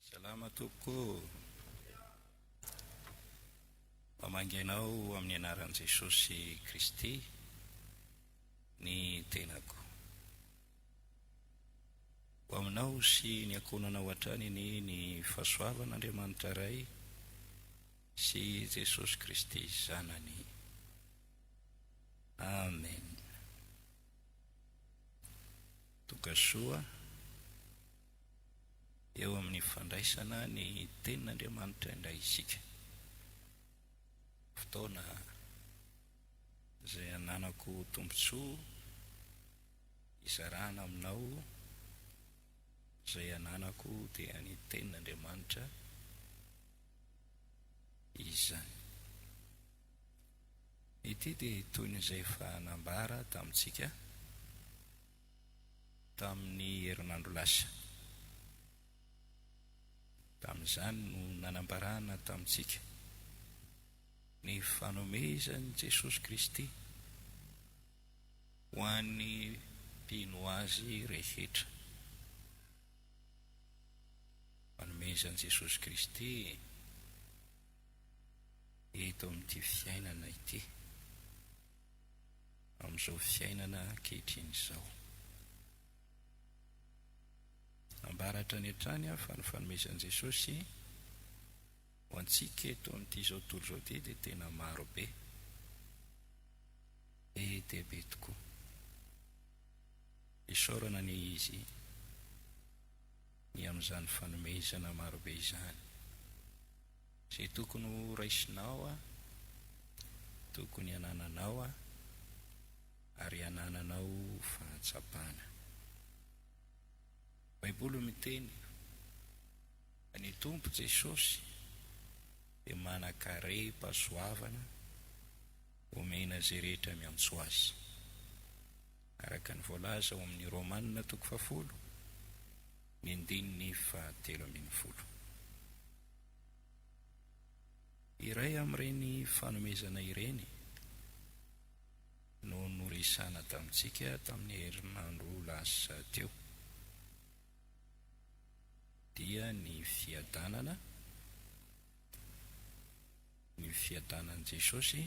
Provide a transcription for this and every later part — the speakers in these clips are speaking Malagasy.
Salama tompoko o! Mamangy anao amin'ny anaran'i Jesosy Kristy ny tenako. Ho aminao sy ny ankohonanao hatrany anie ny fahasoavan'Andriamanitra Ray sy Jesosy Kristy Zanany. Amen. Tonga soa. dia eo amin'ny fandraisana ny Tenin'Andriamanitra indray isika. Fotoana izay ananako tombontsoa hizarana aminao izay ananako dia ny Tenin'Andriamanitra izany. Ity dia toy ny izay efa nambara tamintsika. tamin'ny herinandro lasa. Tamin'izany no nanambarana tamintsika ny fanomezan'i Jesosy Kristy ho an'ny mpino Azy rehetra. Fanomezan'i Jesosy Kristy eto amin'ity fiainana ity. Amin'izao fiainana ankehitriny izao. Ambara hatrany hatrany aho fa ny fanomezan'i Jesosy ho antsika eto amin'ity izao tontolo izao ity dia tena maro be. Be dia be tokoa. Isaorana anie Izy ny amin'izany fanomezana maro be izany. Izay tokony ho raisinao Aho, tokony hanananao Aho, ary hanananao fahatsapana. Ny Baiboly miteny fa ny Tompo Jesosy dia manan-karem-pahasoavana omena izay rehetra miantso Azy. Araka ny voalaza ao amin'ny Romana toko fahafolo, ny andininy fahatelo ambin'ny folo. Iray amin'ireny fanomezana ireny no noresahina tamintsika tamin'ny herinandro lasa teo, dia ny fiadanana, ny fiadanan'i Jesosy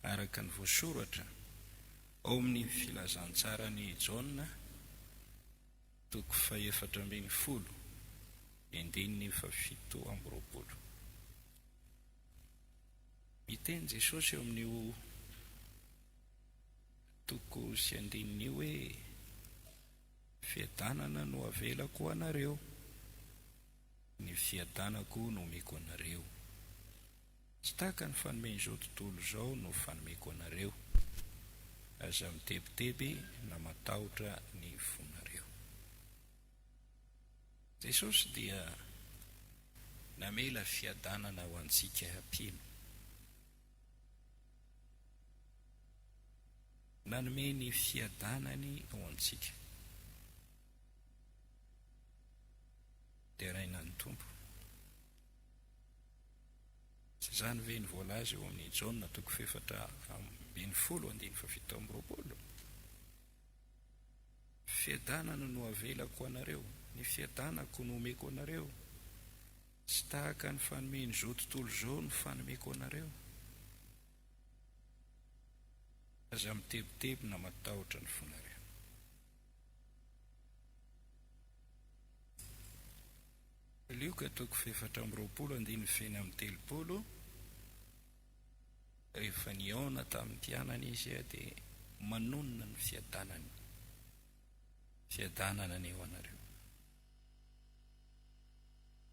araka ny voasoratra ao amin'ny Filazantsaran'i Jaona. Toko fahefatra ambin'ny folo, andininy fahafito amby roapolo. Miteny Jesosy eo amin'io toko sy andininy io hoe, Fiadanana no avelako ho anareo, ny fiadanako no omeko anareo. Tsy tahaka ny fanome izao tontolo izao no fanomeko anareo. Aza mitebiteby na matahotra ny fonareo. Jesosy dia namela fiadanana ho antsika mpino. Nanome ny fiadanany ho antsika. Deraina ny Tompo. Tsy izany ve no voalaza eo amin'ny Jaona toko fahefatra ambin'ny folo andininy fahafito amby roapolo? Fiadanana no avelako ho anareo, ny fiadanako no omeko anareo. Tsy tahaka ny fanomen'izao tontolo izao no fanomeko anareo. Aza mitebiteby na matahotra ny fonareo. Lioka toko efatra amby roapolo andininy feno amin'ny telopolo, Rehefa nihaona tamin'ny mpianany Izy dia manonona ny fiadanany, Fiadanana anie ho anareo.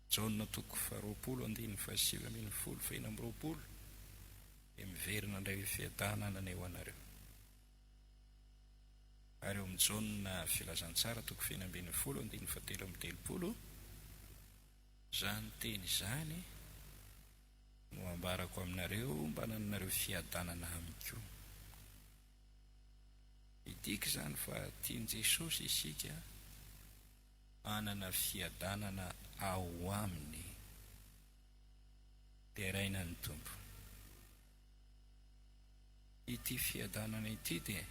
Jaona toko faharoapolo andininy fahasivy ambin'ny folo feno amby roapolo dia miverina indray hoe, Fiadanana anie ho anareo. Ary ao amin'ny Jaona Filazantsara toko feno ambin'ny folo andininy fahatelo amby telopolo, izany teny izany no ambarako aminareo mba hanananareo fiadanana amiko. Midika izany fa tian'i Jesosy isika hanana fiadanana ao Aminy. Deraina ny Tompo. Ity fiadanana ity dia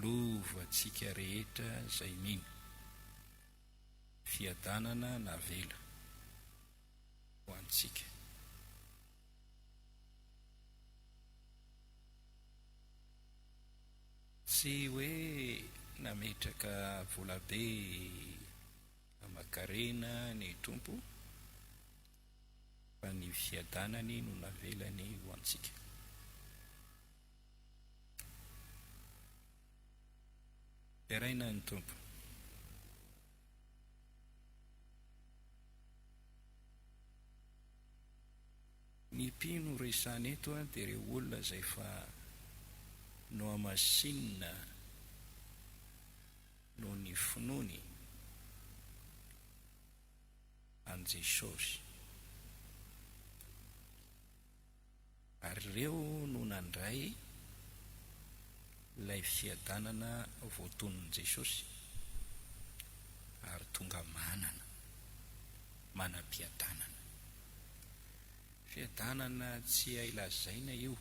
lova antsika rehetra izay mino. Fiadanana navela ho antsika. Tsy hoe nametraka volabe aman-karena ny Tompo Fa ny fiadanany no navelany ho antsika. Deraina ny Tompo. Ny mpino resahina eto dia ireo olona izay efa nohamasinina noho ny finoany. an'i Jesosy. Ary ireo no nandray ilay fiadanana voatonin'i Jesosy ary tonga manana, manam-piadanana. Fiadanana tsy hay lazaina io,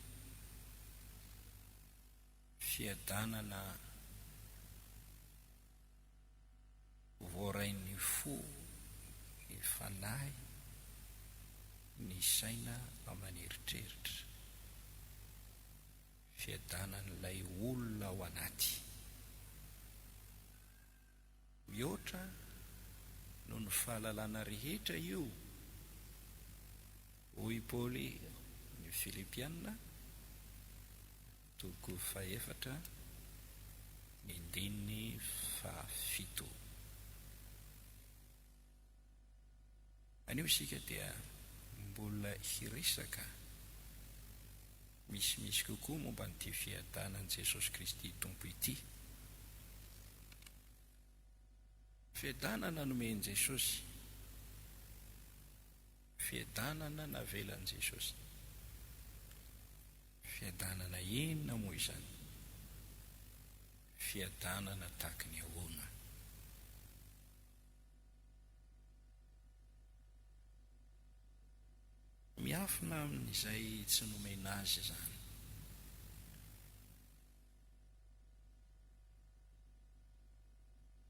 fiadanana Voarain'ny fo, ny fanahy, ny saina aman'eritreritra. Fiadanan'ilay olona ao anaty. Mihoatra noho ny fahalalana rehetra io, hoy i Paoly ny Filipiana, Toko fahefatra, ny ndininy fahafito. Anio isika dia mbola hiresaka misimisy kokoa momba an'ity fiadanan'i Jesosy Kristy Tompo ity. Fiadanana nomen'i Jesosy. Fiadanana navelan'i Jesosy. Fiadanana inona moa izany? Fiadanana tahaky ny ahoana? Miafina amin'izay tsy nomena azy izany.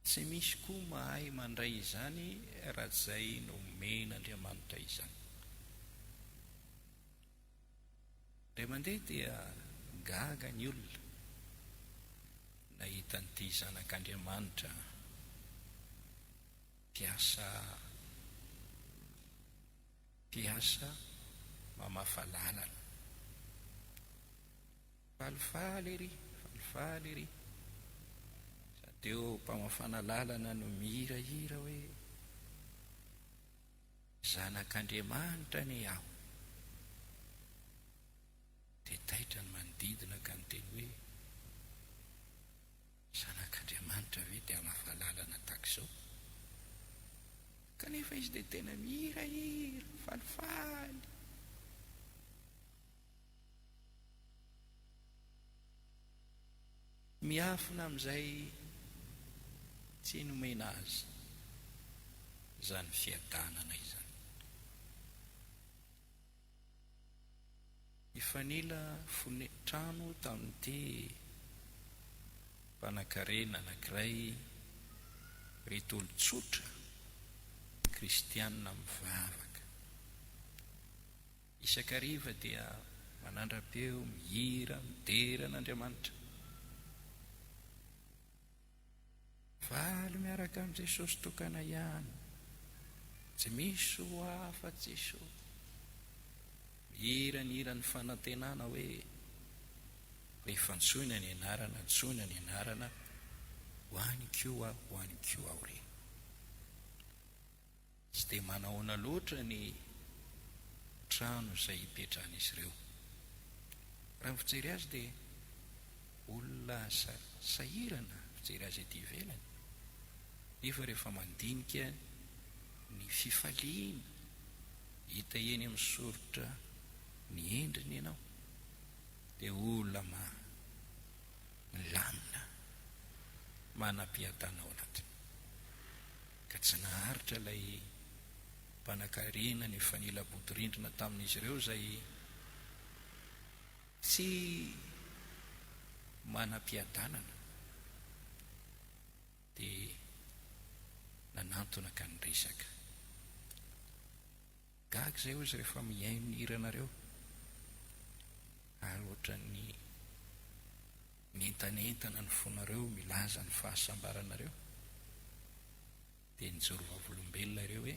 Tsy misy koa mahay mandray izany raha izay nomen'Andriamanitra izany. Indray mandeha dia gaga ny olona nahita an'ity Zanak'Andriamanitra mpiasa mpiasa mamafa lalana. Falifaly ery, falifaly ery. Sa teo mpamafana lalana no mihirahira hoe, Zanak'Andriamanitra anie aho. Dia taitra ny manodidina ka niteny hoe, Zanak'Andriamanitra ve dia hamafa lalana tahaka izao? Kanefa izy dia tena mihirahira, falifaly. Miafina amin'izay tsy nomena azy izany fiadanana izany. Nifanila fone trano tamin'ity mpanakarena anankiray ireto olon-tsotra kristianina mivavaka. Isak'hariva dia manandrapeo, mihira, midera an'Andriamanitra. Valy miaraka amin'i Jesosy tokana ihany, tsy misy ho ahy afa-tsy Jesosy. Mihira ny hiran'ny fanantenana hoe, Fa efa antsoina ny anarana, antsoina ny anarana, ho any koa, ho any koa aho re. Tsy dia manahoana loatra ny trano izay hipetrahan'izy ireo. Raha ny fijery azy dia olona sahirana fijery azy ety ivelany, nefa rehefa mandinika ny fifaliana hita eny amin'ny soritra ny endriny ianao dia olona milamina, manam-piadana ao anatiny. ka tsy naharitra ilay mpanakarena ny fanilabodirindrina tamin'izy ireo izay tsy manam-piadanana dia nanantona ka niresaka. Gaga izay hozy rehefa mihaino ny hiranareo ary ohatran'ny mientanentana ny fonareo milaza ny fahasambaranareo dia nijoro vavolombelona ireo hoe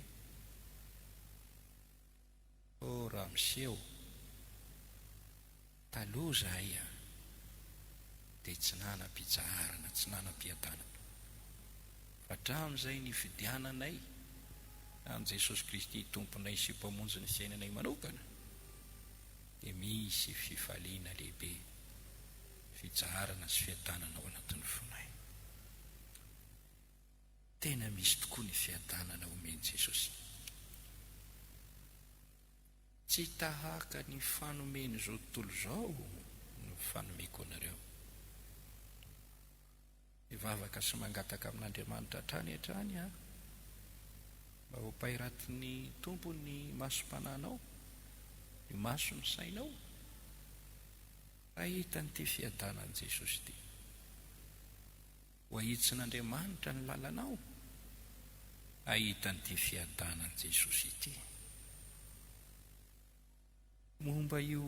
oh raha miseho Taloha zahay a dia tsy nanam-pitsaharana, tsy nanam-piadanana. Fa hatramin'izay nifidiananay an'i Jesosy Kristy Tomponay sy Mpamonjin'ny fiainanay manokana dia misy fifaliana lehibe, fitsaharana sy fiadanana ao anatin'ny fonay. Tena misy tokoa ny fiadanana omen'i Jesosy. Tsy tahaka ny fanomen'izao tontolo izao no fanomeko anareo. Mivavaka sy mangataka amin'Andriamanitra hatrany hatrany aho mba hopairatin'ny Tompo ny masom-panahinao, ny mason'ny sainao, hahita an'ity fiadanan'i Jesosy ity. Ho ahitsin'Andriamanitra ny lalanao, hahita an'ity fiadanan'i Jesosy ity. Momba io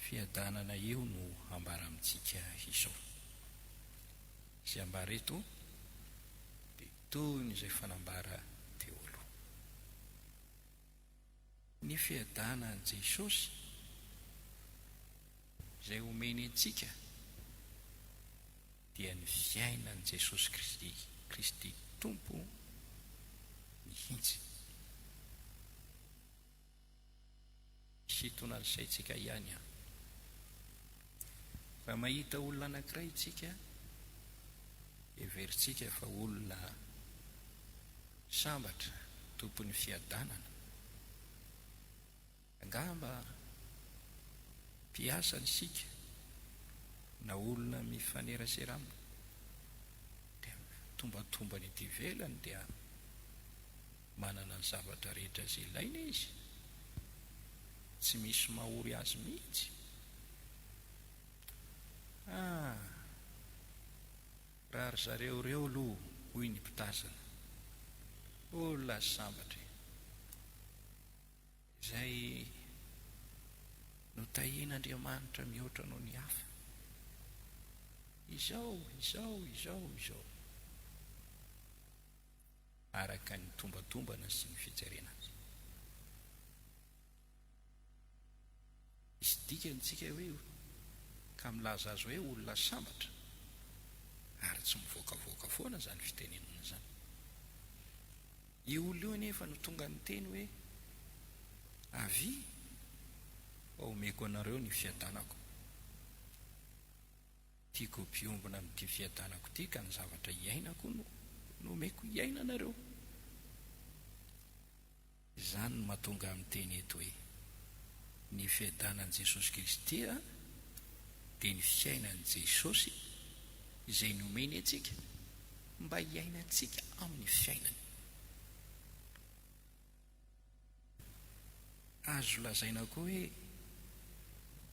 fiadanana io no hambara amintsika izao. Izay ambara eto dia toy ny izay efa nambara teo aloha. Ny fiadanan'i Jesosy izay omeny antsika dia ny fiainan'i Jesosy Kristy, Kristy Tompo mihitsy. Sintonan'ny saintsika ihany an. Raha mahita olona anankiray isika, heverintsika fa olona sambatra, tompon'ny fiadanana, angamba mpiasa isika na olona mifanerasera aminy, dia ny tombantombany ety ivelany dia. Manana ny zavatra rehetra izay ilaina izy, tsy misy mahory azy mihitsy. Ah! Raha ry zareo ireo aloha, hoy ny mpitazana. Oh la sambatra e! Izay notahian'Andriamanitra mihoatra noho ny hafa. Izao, izao, izao, izao. araka ny tombatombana sy ny fijerena azy. Misy dikany tsika hoe io ka milaza azy hoe olona sambatra ary tsy mivoakavoaka foana izany fitenenana izany. Io olona io anefa no tonga niteny hoe avia fa omeko anareo ny fiadanako. Tiako ampiombona amin'ity fiadanako ity ka ny zavatra iainako no nomeko iaina anareo. Izany no mahatonga ahy miteny eto hoe, ny fiadanan'i Jesosy Kristy dia ny fiainan'i Jesosy izay nomeny antsika mba hiainantsika amin'ny fiainany. Azo lazaina koa hoe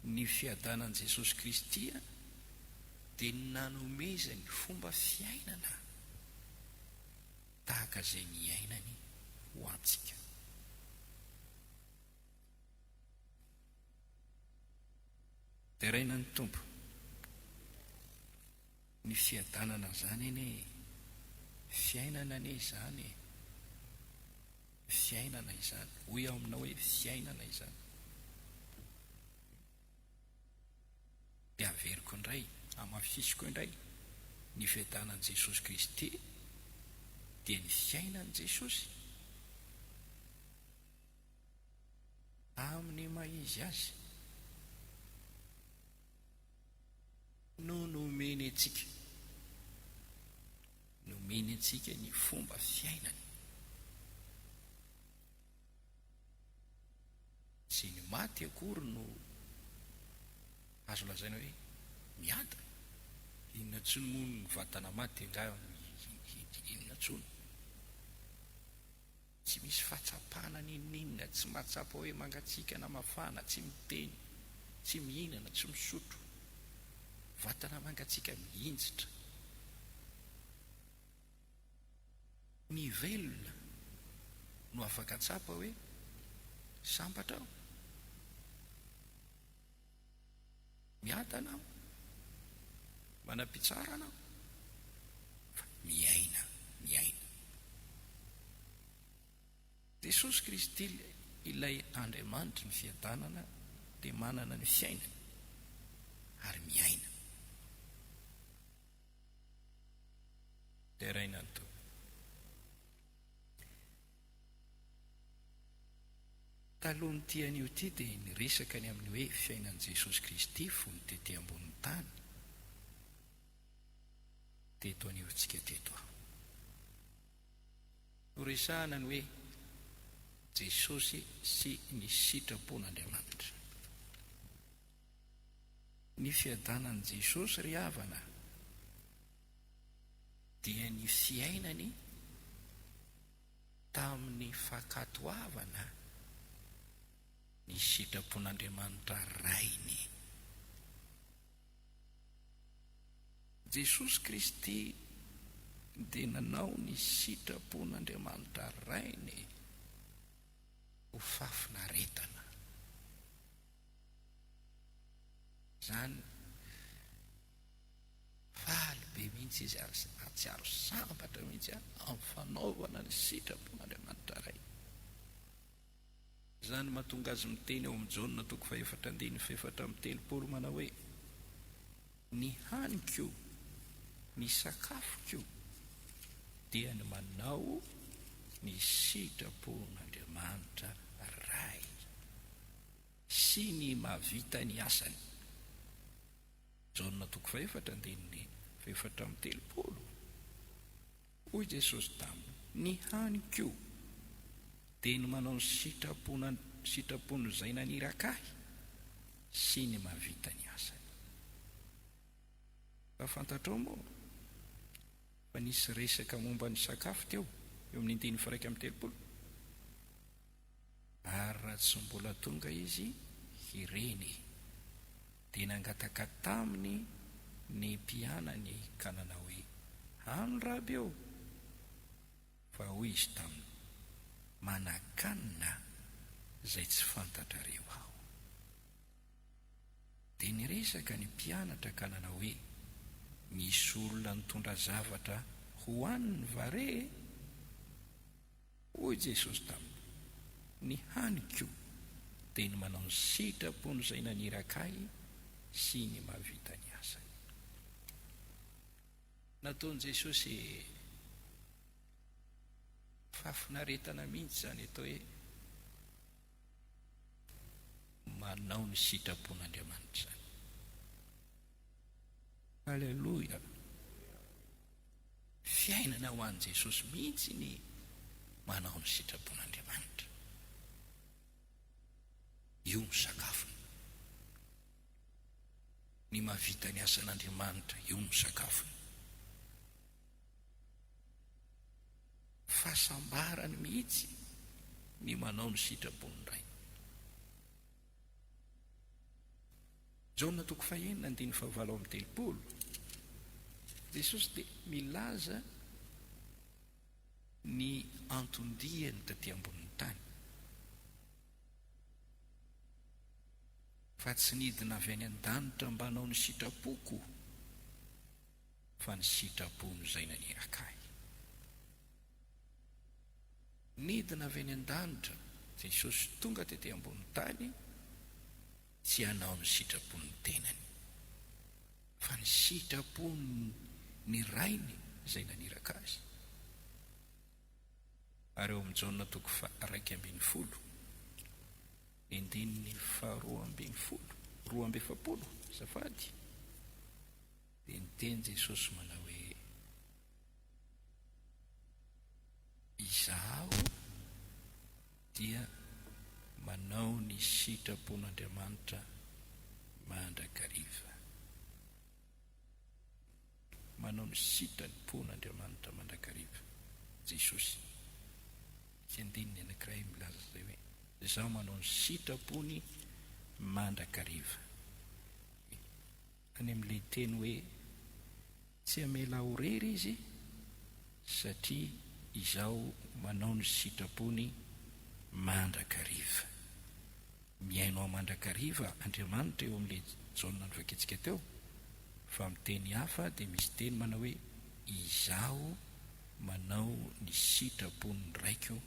ny fiadanan'i Jesosy Kristy dia nanomezany fomba fiainana tahaka izay niainany ho antsika. Deraina ny Tompo. Ny fiadanana zany anie e! Fiainana anie izany e! Fiainana izany! Hoy aho aminao hoe fiainana izany! Dia averiko indray, hamafisiko indray, ny fiadanan'i Jesosy Kristy dia ny fiainan'i Jesosy amin'ny maha izy azy. no nomeny antsika. Nomeny antsika ny fomba fiainany. Tsy ny maty akory no azo lazaina hoe miadana. Inona intsony moa ny vatana maty angaha inona intsony. Tsy misy fahatsapana n'inon'inona, tsy mahatsapa hoe mangatsiaka na mafana, tsy miteny, tsy mihinana, tsy misotro. Vatana mangatsiaka mihinjitra. Ny velona no afaka tsapa hoe sambatra aho. Miadana aho, manam-pitsarana aho, fa miaina, miaina. Jesosy Kristy, Ilay Andriamanitry ny fiadanana dia manana ny fiainany ary miaina. Deraina ny toby. Talohan'ity anio ity dia niresaka ny amin'ny hoe fiainan'i Jesosy Kristy fony tety ambonin'ny tany teto anivontsika teto aho. Noresahana ny hoe Jesosy sy ny sitrapon'Andriamanitra. Ny fiadanan'i Jesosy ry havana. Dia ny fiainany tamin'ny fankatoavana ny sitrapon'Andriamanitra Rainy. Jesosy Kristy dia nanao ny sitrapon'Andriamanitra Rainy ho fafinaretana. Izany. Faly be mihitsy izy ary nahatsiaro sambatra mihitsy amin'ny fanaovana ny sitrapon'Andriamanitra Ray. Izany no mahatonga azy miteny ao amin'ny Jaona toko fahefatra andininy fahefatra amby telopolo manao hoe, Ny haniko, ny sakafoko, dia ny manao ny sitrapon'Andriamanitra Ray sy ny mahavita ny asany. Jaona toko fahefatra andininy fahefatra amby telopolo Hoy Jesosy taminy, Ny haniko dia ny manao ny sitrapon sitrapon'izay naniraka Ahy sy ny mahavita ny asany. Fa fantatrao moa fa nisy resaka momba ny sakafo teo eo amin'ny andininy firaika amby telopolo? Ary raha tsy mbola tonga izy ireny, dia nangataka taminy ny mpianany ka nanao hoe, Any Raby ô! Fa hoy izy taminy, Manakanina izay tsy fantatrareo aho. Dia niresaka ny mpianatra ka nanao hoe, Misy olona nitondra zavatra hohaniny va re e? Hoy Jesosy tamiko, Ny haniko dia ny manao ny sitrapon'Izay naniraka ahy sy ny mahavita ny asany. Nataon'i Jesosy fahafinaretana mihitsy izany atao hoe manao ny sitrapon'Andriamanitra izany. Aleloia! Fiainana ho an'i Jesosy mihitsy ny manao ny sitrapon'Andriamanitra. Io no sakafony. Ny mahavita ny asan'Andriamanitra, io no sakafony. Fahasambarany mihitsy ny manao ny sitrapon'ny Ray. Jaona toko fahenina andininy fahavalo amby telopolo, Jesosy dia milaza ny anton-diany taty ambonin'ny tany, Fa tsy nidina avy any an-danitra mba hanao ny sitrapoko. Fa ny sitrapony izay naneraka ahy. Nidina avy any an-danitra Jesosy tonga tety ambony tany tsy hanao ny sitrapon'ny tenany. Fa ny sitrapony ny Rainy izay naneraka Azy. Ary ao amin'ny Jaona toko faha raika ambin'ny folo, ny andininy faha roa ambin'ny folo, roa amby efapolo, azafady, Dia niteny Jesosy manao hoe, Izaho dia manao ny sitrapon'Andriamanitra mandrakariva. Manao ny sitrapon'Andriamanitra mandrakariva Jesosy. Misy andininy anankiray milaza izay hoe, Izaho manao ny sitrapony mandrakariva. Any amin'ilay teny hoe tsy hamela ho rery Izy, satria Izaho manao ny sitrapony mandrakariva. Mihaino ahy mandrakariva Andriamanitra eo amin'ilay Jaona novakintsika teo, fa amin'ny teny hafa dia misy teny manao hoe Izaho manao ny sitrapon'ny Raiko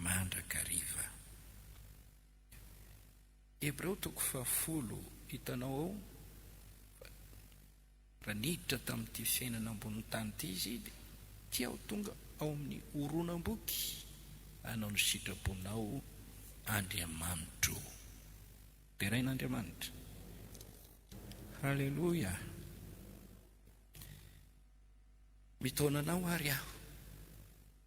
mandrakariva. Hebreo toko fahafolo, Hitanao ao fa raha niditra tamin'ity fiainana ambonin'ny tany ity izy, dia ity aho tonga ao amin'ny horonam-boky hanao ny sitraponao Andriamanitro o. Derain'Andriamanitra. Haleloia. Mitaona anao àry aho.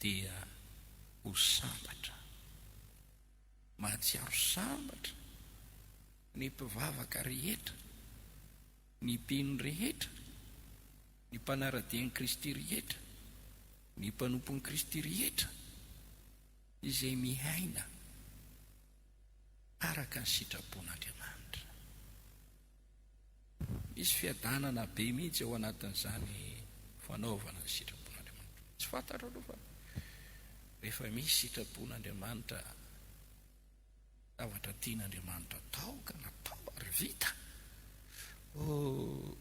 dia ho sambatra. Mahatsiaro sambatra ny mpivavaka rehetra, ny mpino rehetra, ny mpanara-dia an'i Kristy rehetra, ny mpanompon'i Kristy rehetra izay miaina araka ny sitrapon'Andriamanitra. Misy fiadanana be mihitsy ao anatin'izany fanaovana ny sitrapon-Andriamanitra. Tsy fantatro aloha fa rehefa misy sitrapon-Andriamanitra, zavatra tian'Andriamanitra atao ka natao ary vita, oh,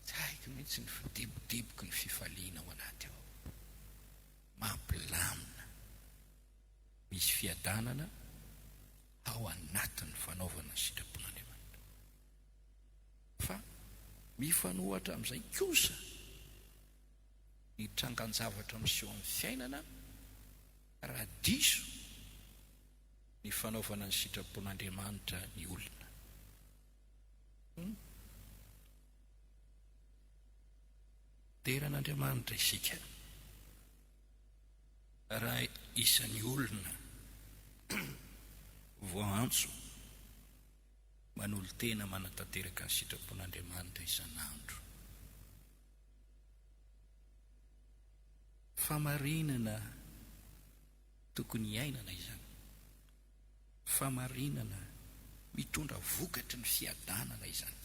tsy haiko mihitsy ny fidebodeboky ny fifaliana ao anaty ao. Mampilamina. Misy fiadanana ao anatin'ny fanaovana ny sitrapon'Andriamanitra. Fa mifanohitra amin'izay kosa ny trangan-javatra miseho amin'ny fiainana raha diso ny fanaovana ny sitrapon'Andriamanitra ny olona. Hum. Dera an'Andriamanitra isika. Raha isan'ny olona voaantso manolo-tena manatanteraka ny sitrapon'Andriamanitra isan'andro, famarinana tokony hiainana izany, famarinana mitondra vokatry ny fiadanana izany.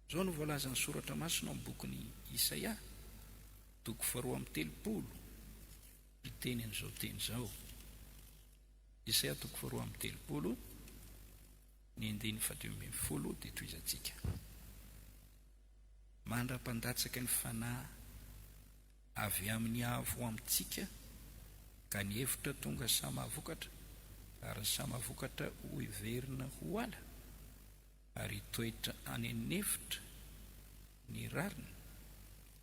Izao no voalazan'ny Soratra Masina ao amin'ny bokin'i Isaia, toko faharoa amby telopolo, miteny an'izao teny izao. Isaia toko faharoa amby telopolo, ny andininy fahadimy ambin'ny folo dia tohizantsika. Mandra-pandatsaka ny fanahy avy amin'ny Avo ho amintsika, ka ny hevitra tonga samy hahavokatra, ary ny samy hahavokatra hoheverina ho ala. Ary hitoetra any an'efitra ny rariny,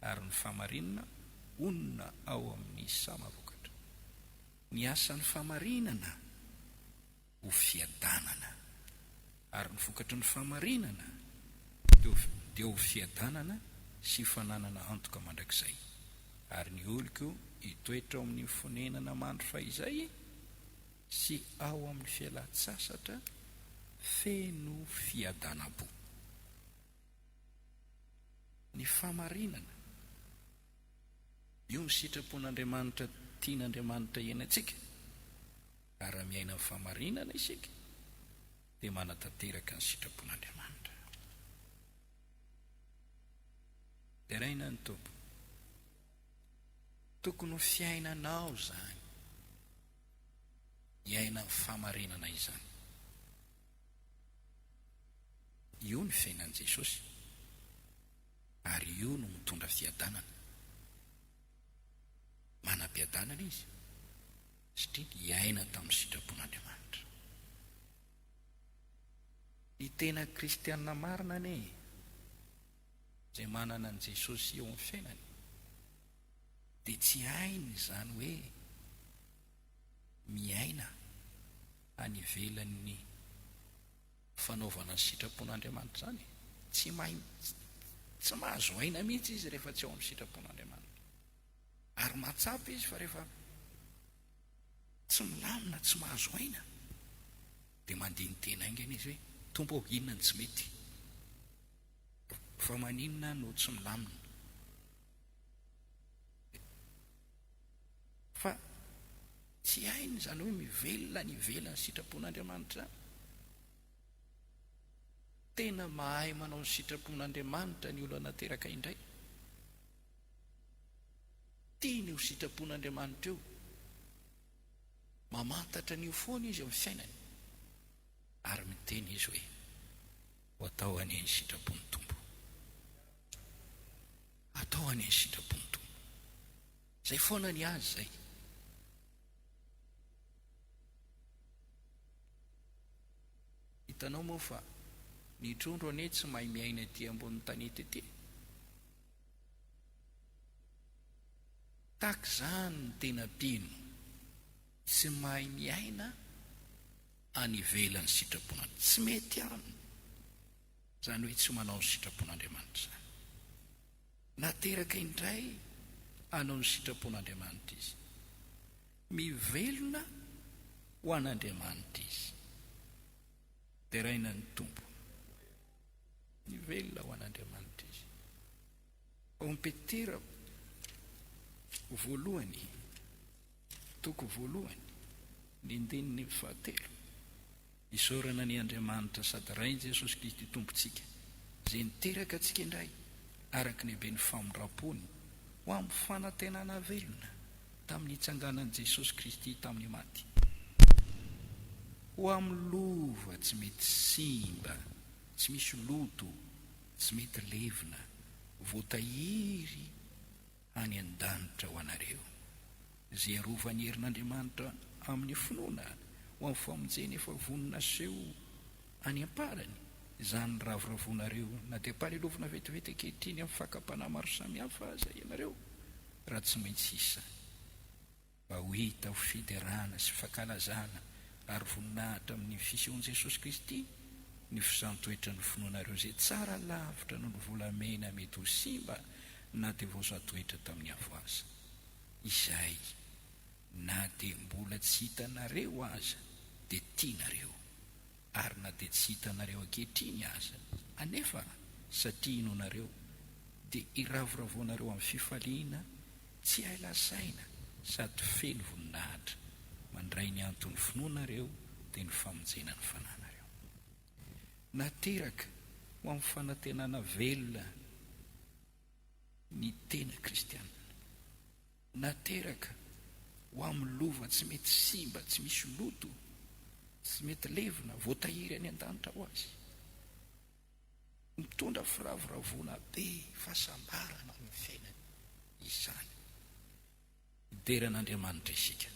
ary ny fahamarinana honina ao amin'ny sama-vokatra. Ny asan'ny fahamarinana ho fiadanana, ary ny vokatry ny fahamarinana dia ho fiadanana sy fananana antoka mandrakizay. Ary ny oloko hitoetra ao amin'ny fonenana mandry fahizay. sy ao amin'ny fialan-tsasatra feno fiadanam-po. Ny fahamarinana, io ny sitrapon'Andriamanitra tian'Andriamanitra hiainantsika, ary raha miaina amin'ny fahamarinana isika dia manatanteraka ny sitrapon'Andriamanitra. Deraina ny Tompo. Tokony ho fiainanao izany. Hiaina ny fahamarinana izany. Io ny fiainan'i Jesosy, ary io no mitondra fiadanana. Manam-piadanana Izy, satria niaina tamin'ny sitrapon'Andriamanitra. Ny tena kristiana marina anie e! izay manana an'i Jesosy eo amin'ny fiainany dia tsy hainy izany hoe miaina any ivelan'ny fanaovana ny sitrapon'Andriamanitra izany e. Tsy mahay mihitsy, tsy mahazo aina mihitsy izy rehefa tsy ao amin'ny sitrapon'Andriamanitra. Ary mahatsapa izy fa rehefa tsy milamina, tsy mahazo aina, dia mandini-tena haingana izy hoe, Tompo ô, inona no tsy mety? Fa maninona no tsy milamina? Fa tsy hainy izany hoe mivelona any ivelan'ny sitrapon'Andriamanitra izany. Tena mahay manao ny sitrapon'Andriamanitra ny olona nateraka indray. Tiany io sitrapon'Andriamanitra io. Mamantatra an'io foana izy amin'ny fiainany. Ary miteny izy hoe, Ho atao anie ny sitrapon'ny Tompo. Atao anie ny sitrapon'ny Tompo. Izay foana ny azy izay. Hitanao moa fa ny trondro anie tsy mahay miaina ety ambonin'ny tanety ety. Takzany ny tena mpino, tsy mahay miaina any ivelan'ny sitrapon'Andriamanitra. Tsy mety aminy izany hoe tsy manao ny sitrapon'Andriamanitra izany. Nateraka indray hanao ny sitrapon'Andriamanitra izy. Mivelona ho an'Andriamanitra izy. Deraina ny Tompo. Mivelona ho an'Andriamanitra izy. Ao Petera voalohany, toko voalohany, ny andininy fahatelo, isaorana an' Andriamanitra sady Rain' Jesosy Kristy Tompontsika, Izay niteraka antsika indray araka ny haben'ny famindram-pony, ho amin'ny fanantenana velona tamin'ny nitsanganan'i Jesosy Kristy tamin'ny maty, ho amin'ny lova tsy mety simba, tsy misy loto, Tsy mety levona, voatahiry any an-danitra ho anareo, izay arovan'ny herin'Andriamanitra amin'ny finoana ho amin'ny famonjena efa vonona haseho any am-parany, izany ravoravoanareo na dia ampahalelovina vetivety ankehitriny amin'ny fakam-panahy maro samihafa aza ianareo, raha tsy maintsy hisy izany. Mba ho hita ho fiderana sy fankalazana ary voninahitra amin'ny fisehon'i Jesosy Kristy ny fisantoetran'ny finoanareo izay tsara lavitra noho ny volamena mety ho simba na dia vao santoetra tamin'ny avoaza, izay na dia mbola tsy hitanareo aza dia tianareo, ary na dia tsy hitanareo ankehitriny aza anefa satria inoanareo dia iravoravoanareo amin'ny fifaliana Tsy hay lazaina sady feno voninahitra. Mandray ny anton'ny finoanareo dia ny famonjena ny fananareo. Nateraka ho amin'ny fanantenana velona ny tena kristianina. Nateraka ho amin'ny lova tsy mety simba, tsy misy loto, tsy mety levona, voatahiry any an-danitra ho azy. Mitondra firavoravoana be fahasambarana ao amin'ny fiainana izany. Midera an'Andriamanitra isika.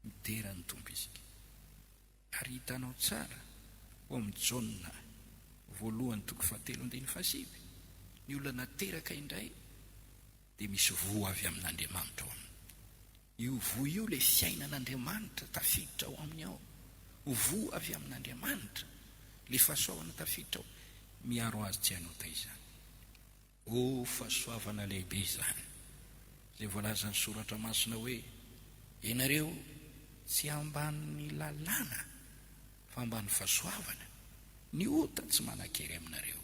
Midera an'ny Tompo isika. Ary hitanao tsara ao amin'ny Jaona voalohany toko fahatelo andininy fahasivy, ny olona nateraka indray dia misy voa avy amin'Andriamanitra ao aminy. Io voa io ilay fiainan'Andriamanitra tafiditra ao aminy ao. Ho voa avy amin'Andriamanitra ilay fahasoavana tafiditra ao. Miaro azy tsy hanota izany. Oh, fahasoavana lehibe izany, izay voalazan'ny Soratra Masina hoe, Ianareo tsy ambanin'ny lalàna, fa ambanin'ny fahasoavana. Ny ota tsy manan-kery aminareo.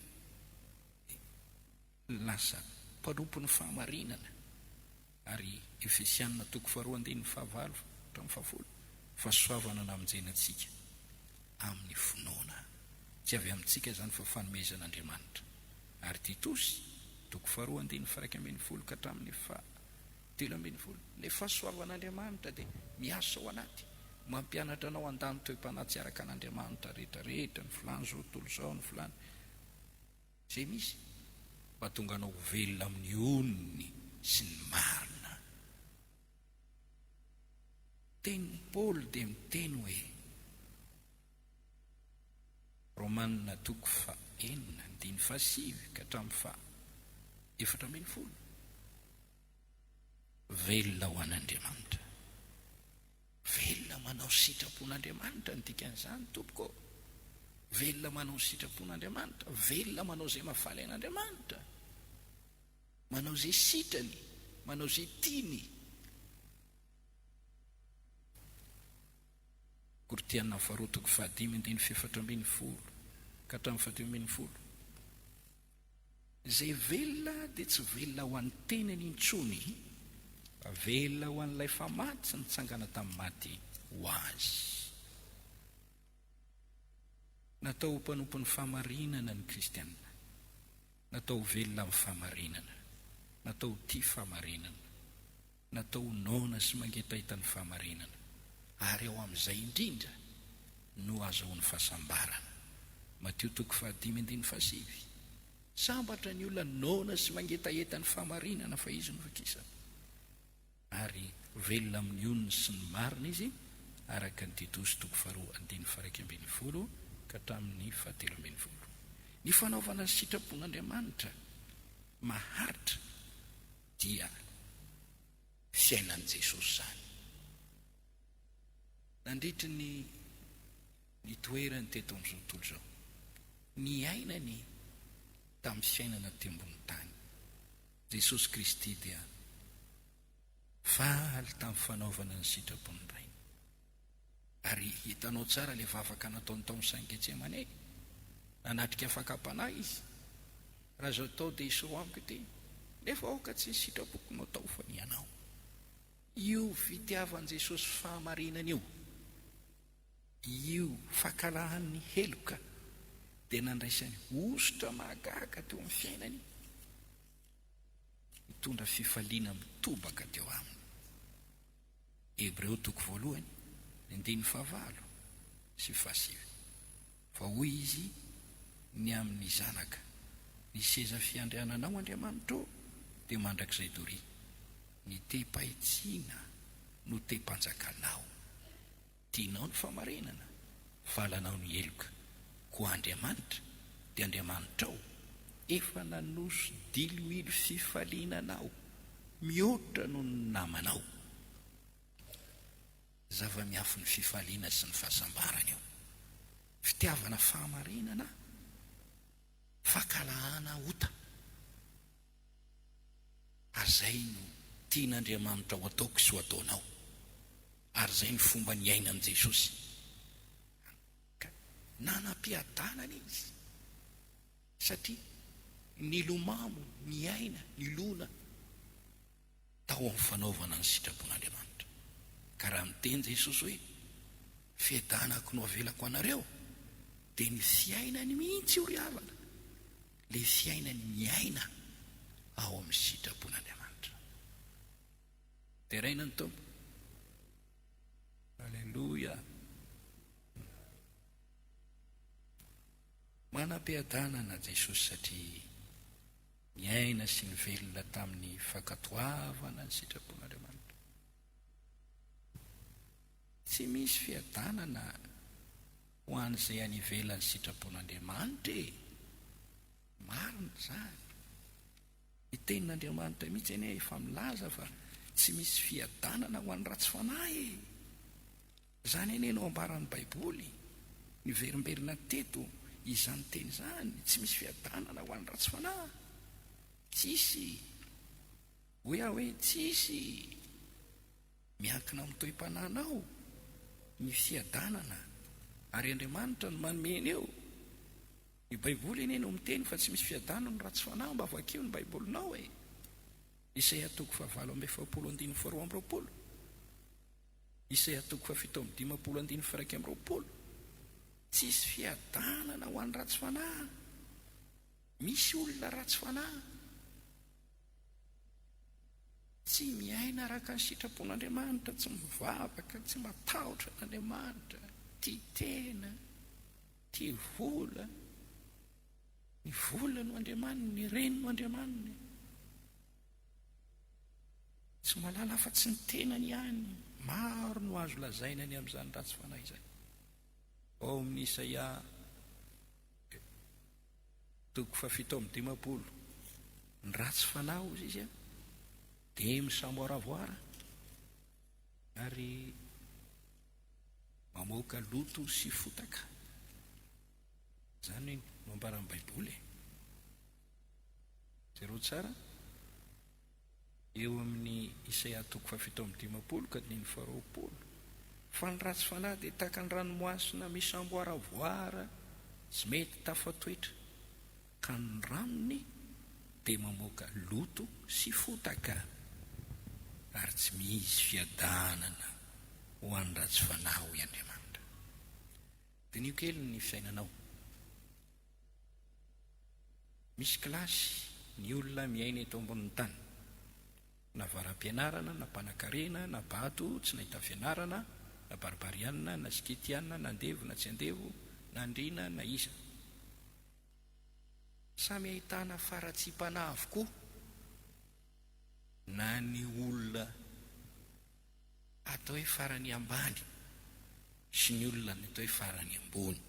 Lasa mpanompon'ny fahamarinana ary Efesianina toko faharoa andininy fahavalo hatramin'ny fahafolo, Fahasoavana namonjena antsika amin'ny finoana. Tsy avy amintsika izany fa fanomezan'Andriamanitra. Ary Titosy toko faharoa andininy faharaika ambin'ny folo ka hatramin'ny fahatelo ambin'ny folo, Ilay fahasoavan'Andriamanitra dia miasa ao anaty, mampianatra anao handany toe-panahy tsy araka an'Andriamanitra rehetra rehetra, ny filàny izao tontolo izao, ny filàny. Izay misy, mahatonga anao ho velona amin'ny onony sy ny marina. Teny Paoly dia miteny hoe, Romana toko faha enina andininy faha sivy ka hatramin'ny faha efatra ambin'ny folo, Velona ho an'Andriamanitra. Velona manao ny sitrapon'Andriamanitra no dikan'izany tompoko ô! Velona manao ny sitrapon'Andriamanitra, velona manao izay mahafaly an'Andriamanitra, manao izay sitrany, manao izay tiany. Koritiana faharoa toko fahadimy andininy fahefatra ambin'ny folo ka hatramin'ny fahadimy ambin'ny folo. Izay velona dia tsy velona ho an'ny tenany intsony, fa velona ho an'ilay famatsy nitsangana tamin'ny maty ho azy. Natao ho mpanompon'ny fahamarinana ny Kristianina. Natao ho velona amin'ny fahamarinana. Natao ho tia fahamarinana. Natao ho noana sy mangetaita ny fahamarinana, ary ao amin'izay indrindra no ahazoany fahasambarana. Matio toko fahadimy andininy fahasivy, Sambatra ny olona noana sy mangetaheta ny fahamarinana, fa izy no ho kisana. Ary velona amin'ny onony sy ny marina izy, araka ny Titosy toko faharoa andininy faharaika ambin'ny folo ka hatramin'ny fahatelo ambin'ny folo. Ny fanaovana ny sitrapon'Andriamanitra maharitra Dia fiainan'i Jesosy izany. Nandritry ny nitoerany teto amin'izao tontolo izao, niainany tamin'ny fiainana aty ambony tany, Jesosy Kristy dia faly tamin'ny fanaovana ny sitrapon'ny Rainy. Ary hitanao tsara ilay vavaka nataon'i Taomsain'i Getsemane. Nanatrika fakam-panahy izy. Raha izao atao dia hisoroha amiko ity. Nefa aoka tsy ny sitrapoko no atao fa ny anao. Io fitiavan'i Jesosy fahamarinana io, io fankalahan'ny heloka dia nandraisany hosotra mahagaga teo amin'ny fiainany, nitondra fifaliana mitobaka teo aminy. Hebreo toko voalohany, ny andininy fahavalo sy fahasivy. Fa hoy Izy ny amin'ny zanaka, Ny seza fiandriananao, Andriamanitra ô, dia mandrakizay doria, ny tehim-pahitsiana no tehim-panjakanao. Tianao ny fahamarinana? Valanao ny heloka. Koa Andriamanitra, dia Andriamanitrao, efa nanoso diloilo fifaliana anao, mihoatra noho ny namanao. Zava-miafin'ny fifaliana sy ny fahasambarana io. Fitiavana fahamarinana, fankalahana ota. Ary izay no tian'Andriamanitra ho ataoko sy ho ataonao. Ary izay no fomba niainan'i Jesosy. Ka nanam-piadanana Izy, satria nilomano, niaina, nilona tao amin'ny fanaovana ny sitrapon'Andriamanitra. Ka raha niteny Jesosy hoe, Fiadanako no avelako anareo, dia ny fiainany mihitsy io ry havana. Ilay fiainany miaina ao amin'ny sitrapon'Andriamanitra. Deraina ny Tompo. Aleloia. Manam-piadanana Jesosy satria niaina sy nivelona tamin'ny fankatoavana ny sitrapon'Andriamanitra. Tsy misy fiadanana. Ho an'izay any ivelan'ny sitrapon'Andriamanitra e! Marina izany. Ny Tenin'Andriamanitra mihitsy anie efa milaza fa tsy misy fiadanana ho an'ny ratsy fanahy e! Izany anie no ambaran'ny Baiboly. Niverimberina teto izany teny izany, tsy misy fiadanana ho an'ny ratsy fanahy. Tsisy. Hoy aho hoe, Tsisy! Miankina amin'ny toe-panahinao ny fiadanana ary Andriamanitra no manome an'io. Ny Baiboly anie no miteny fa tsy misy fiadanana raha tsy fanahy, mba vakio ny Baibolinao e! Isaia toko fahavalo amby efapolo andininy faharoa amby roapolo, Isaia toko fahafito amby dimampolo andininy faharaika amby roapolo, Tsisy fiadanana ho an'ny ratsy fanahy. Misy olona ratsy fanahy tsy miaina araka ny sitrapon'Andriamanitra, tsy mivavaka, tsy matahotra an'Andriamanitra, tia tena, tia vola, ny vola no andriamaniny, ny reny no andriamaniny. Tsy malala afa-tsy ny tenany ihany. Maro no azo lazaina ny amin'izany ratsy fanahy izany. Ao amin'ny Isaia Toko fahafito amby dimampolo, Ny ratsy fanahy, hozy izy, dia misamboaravoara ary mamoaka loto sy fotaka. Izany no ambaran'ny Baiboly e. Jereo tsara. eo amin'ny Isaia toko fahafito amby dimampolo ka dimy faharoapolo, fa ny ratsy fanahy dia tahaka ny ranomasina misamboaravoara tsy mety tafatoetra, ka ny ranony dia mamoaka loto sy fotaka, ary tsy misy fiadanana ho an'ny ratsy fanahy, hoy Andriamanitra. Diniho kely ny fiainanao. Misy kilasy ny olona miaina eto ambonin'ny tany. Na varapianarana, na mpanakarena, na bato, tsy nahita fianarana, na barbariana, na skitiana, na andevo, na tsy andevo, na andriana, na iza. Samy ahitana faratsiam-panahy avokoa na ny olona atao hoe farany ambany sy ny olona ny atao hoe farany ambony.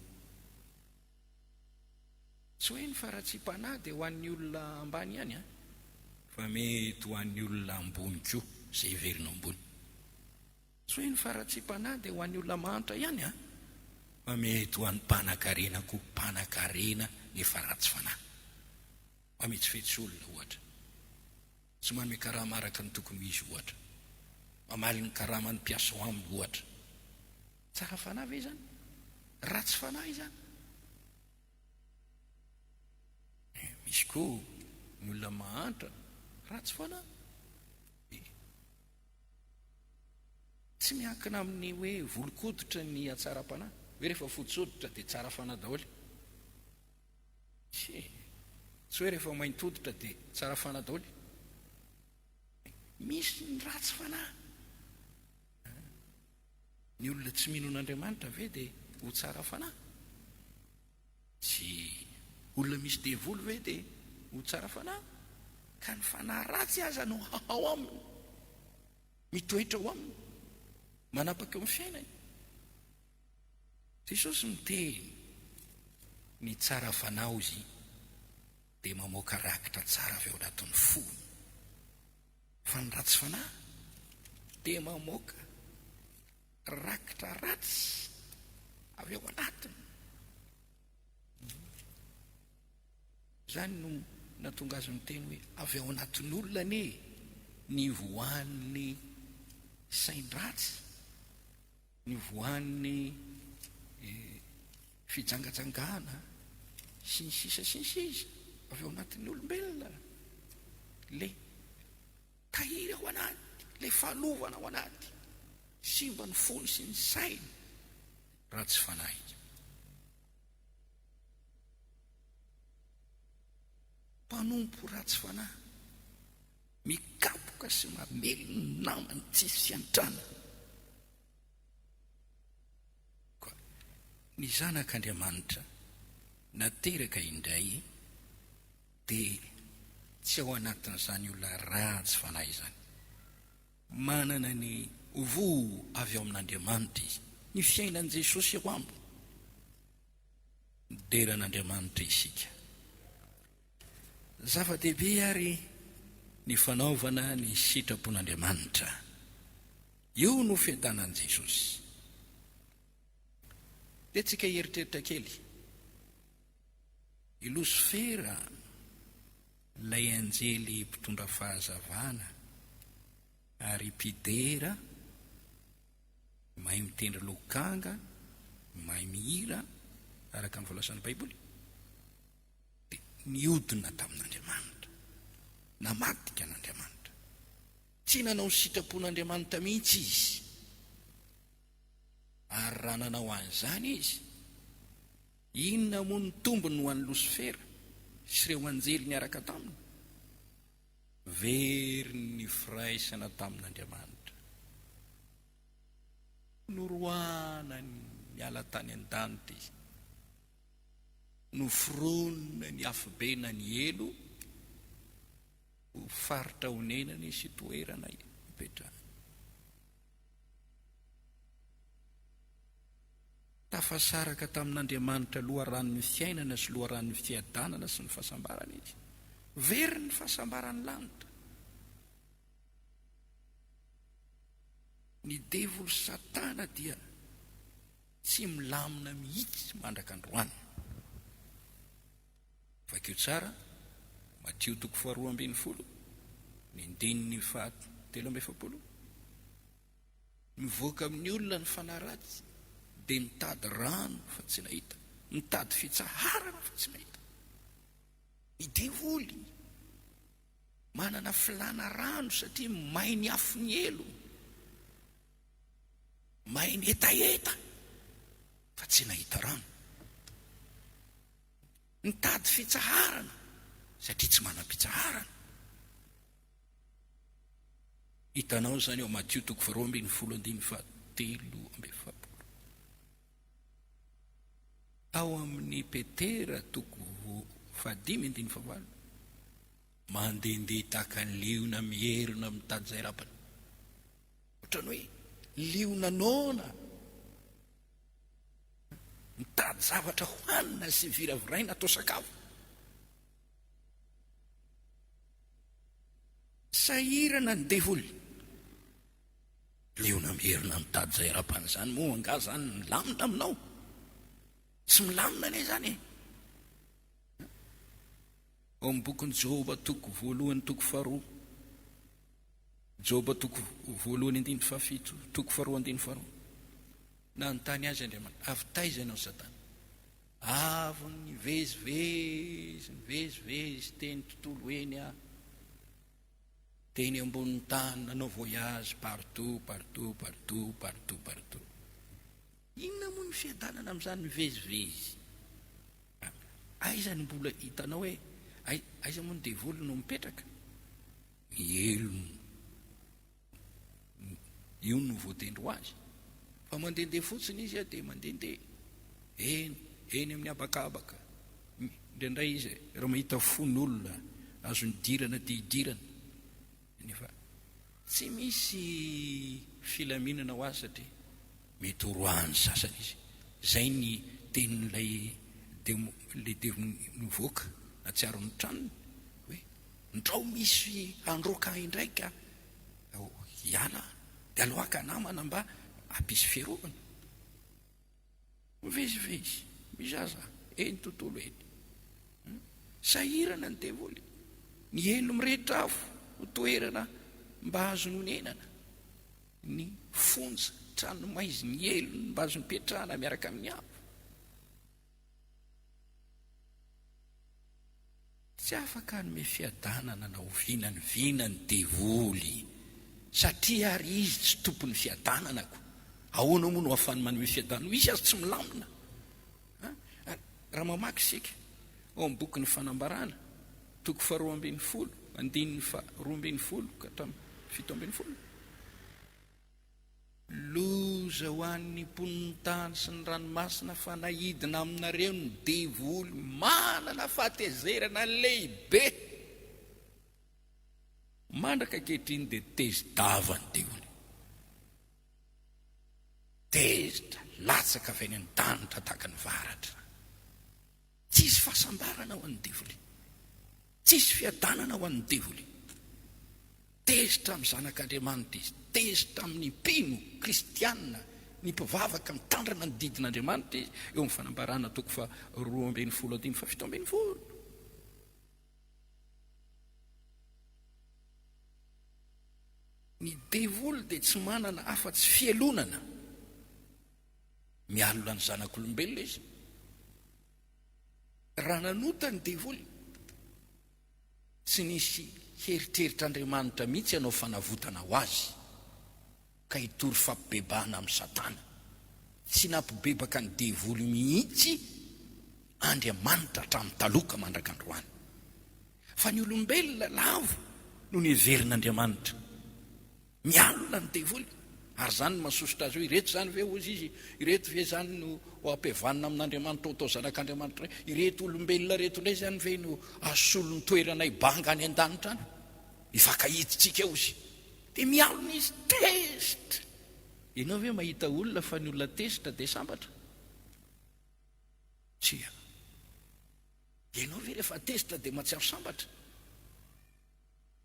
Tsy hoe ny faratsiam-panahy dia ho an'ny olona ambany ihany an. Fa mety ho an'ny olona ambony koa, izay heverina ambony. Tsy hoe ny faratsiam-panahy dia ho an'ny olona mahantra ihany an. Fa mety ho an'ny mpanakarena koa, mpanakarena nefa ratsy fanahy. Mametsifetsy olona, ohatra. Tsy manome karama araka ny tokony ho izy, ohatra. Mamaly ny karaman'ny mpiasa ao aminy, ohatra. Tsara fanahy ve izany? Ratsy fanahy izany? Misy koa ny olona mahantra, ratsy fanahy. Tsy miankina amin'ny hoe volon-koditra ny hatsaram-panahy, hoe rehefa fotsy hoditra dia tsara fanahy daholo. Tsia, tsy hoe rehefa maint hoditra dia tsara fanahy daoly e! Misy ny ratsy fanahy an! Ny olona tsy mino an'Andriamanitra ve dia ho tsara fanahy? Tsia! Olona misy devoly ve dia ho tsara fanahy? Ka ny fanahy ratsy aza no ao aminy, mitoetra ao aminy, manapaka eo amin'ny fiainany. Jesosy miteny, Ny tsara fanao Izy dia mamoaka rakitra tsara avy ao anatin'ny fony, fa ny ratsy fanahy dia mamoaka rakitra ratsy avy ao anatiny. Izany no nahatonga azy miteny hoe avy ao anatin'olona anie ny voan'ny sain-dratsy. Nivoahan'ny fijangajangana sy ny sisa sy ny sisa avy ao anatin'ny olombelona ilay tahiry ao anaty, ilay fahalovana ao anaty, simba ny fony sy ny sainy, ratsy fanahy. Mpanompo ratsy fanahy. Mikapoka sy mamely ny namany tsisy antrany. Koa ny Zanak' Andriamanitra nateraka indray dia tsy ao anatin'izany olona ratsy fanahy izany. Manana ny Voa avy ao amin' Andriamanitra izy. Ny fiainan'i Jesosy eo aminy. Midera an' Andriamanitra isika. Zava-dehibe àry ny fanaovana ny sitrapon'Andriamanitra. Io no fiadanan'i Jesosy. Dia tsika hieritreritra kely. I Losifera, ilay anjely mpitondra fahazavana ary mpidera, mahay mitendry lokanga, mahay mihira, araka ny voalazan'ny Baiboly, dia niodina tamin'Andriamanitra, namadika an'Andriamanitra. Tsy nanao ny sitrapon'Andriamanitra mihitsy izy. Ary raha nanao an'izany izy, inona moa ny tombony ho an'i Losifera sy ireo anjely niaraka taminy? Very ny firaisana tamin'Andriamanitra. Noroahana niala tany an-danitra izy. Noforonina ny afobe na ny helo ho faritra onenany sy toerana ipetrahany. Tafasaraka tamin'Andriamanitra loharanon'ny fiainana sy loharanon'ny fiadanana sy ny fahasambarana izy. Very ny fahasambaran'ny lanitra. Ny devoly Satana dia. Tsy milamina mihitsy mandraka androany. Vakio tsara, Matio toko faharoa ambin'ny folo, ny andininy faha telo amby efapolo. Mivoaka amin'ny olona ny fanahy ratsy, dia mitady rano fa tsy nahita, mitady fitsaharana fa tsy nahita. Ny devoly manana filana rano satria may ny afon'ny helony. Mahay mihetaheta fa tsy nahita rano. Nitady fitsaharana satria tsy manam-pitsaharana. Hitanao izany ao Matio toko faharoa ambin'ny folo andininy fahatelo amby efapolo. Ao amin'ny Petera toko fahadimy andininy fahavalo. Mandehandeha tahaka ny liona mierona mitady izay rabany. Ohatran'ny hoe liona noana mitady zavatra hohanina sy viraviraina atao sakafo. Sahirana ny devoly. Liona merina mitady izay arapany izany moa angaha izany milamina aminao? Tsy milamina anie izany e! Ao amin'ny bokin'i Joba toko voalohany toko faharoa, Joba toko voalohany andininy fahafito toko faharoa andininy faharoa, nanontany azy Andriamanitra, avy taiza ianao Satana? Avy nivezivezy, nivezivezy teny tontolo eny aho, teny ambonin'ny tany, nanao voyage partout, partout, partout, partout, partout. Inona moa ny fiadanana amin'izany mivezivezy? Aiza no mbola hitanao hoe aiza moa ny devoly no mipetraka? Mihelony. Io no voatendry ho azy. Fa mandehandeha fotsiny izy dia mandehandeha. Eny, eny amin'ny habakabaka. Indraindray izy raha mahita fon'olona azo nidirana dia hidirana. Nefa tsy misy filaminana ho azy satria mety ho roahan'ny sasany izy. Izay ny tenin'ilay demo, ilay devo nivoaka nahatsiaro ny tranony hoe, Ndrao misy handroaka ahy indray ka! Ao hiala aho, dia aloaka namana mba hampisy fiarovana. Mivezivezy, mizaza eny tontolo eny. Sahirana ny devoly. Miely mirehitra afo ho toerana mba azony onenana. Ny fonja, tranomaizy, ny helony mba azony petrahana miaraka amin'ny hafa. Tsy afaka hanome fiadanana na oviana ny vina ny devoly, satria àry izy tsy tompon'ny fiadanana, koa ahoana moa no ahafahany manome fiadanana ho izy aza tsy milamina? Raha mamaky isika ao amin'ny bokin'ny Fanambarana, toko faharoa ambin'ny folo, andininy faharoa ambin'ny folo ka hatramin'ny fito ambin'ny folo, Loza ho an'ny mponin'ny tany sy ny ranomasina fa naidina aminareo ny devoly manana fahatezerana lehibe. Mandraka ankehitriny dia tezi-dava ny devoly. Tezitra, latsaka avy any an-danitra tahaka ny varatra. Tsy hisy fahasambarana ho an'ny devoly. Tsy hisy fiadanana ho an'ny devoly. Tezitra amin'ny Zanak'Andriamanitra izy. Tezitra amin'ny mpino kristiana, ny mpivavaka mitandrina ny didin'Andriamanitra izy, eo amin'ny Fanambarana toko faharoa ambin'ny folo andininy fahafito ambin'ny folo. Ny devoly dia tsy manana afa-tsy fialonana. Mialona ny zanak'olombelona izy. Raha nanota ny devoly, tsy nisy heritreritr'Andriamanitra mihitsy hanao fanavotana ho azy, ka hitory fampibebahana amin'i Satana. Tsy nampibebaka ny devoly mihitsy Andriamanitra hatramin'ny taloha ka mandraka androany. Fa ny olombelona lavo no niheverin'Andriamanitra Mialona ny devoly, ary izany no mahasosotra azy hoe, Ireto izany ve, hozy izy, ireto ve izany no ho ampihavanina amin'Andriamanitra ho atao zanak'Andriamanitra indray? Ireto olombelona ireto indray izany ve no hasolon-toeranay banga any an-danitra any? Hifankahidintsika, hozy. Dia mialona izy, tezitra! Ianao ve mahita olona fa ny olona tezitra dia sambatra? Tsia. Dia ianao ve rehefa tezitra dia mahatsiaro sambatra?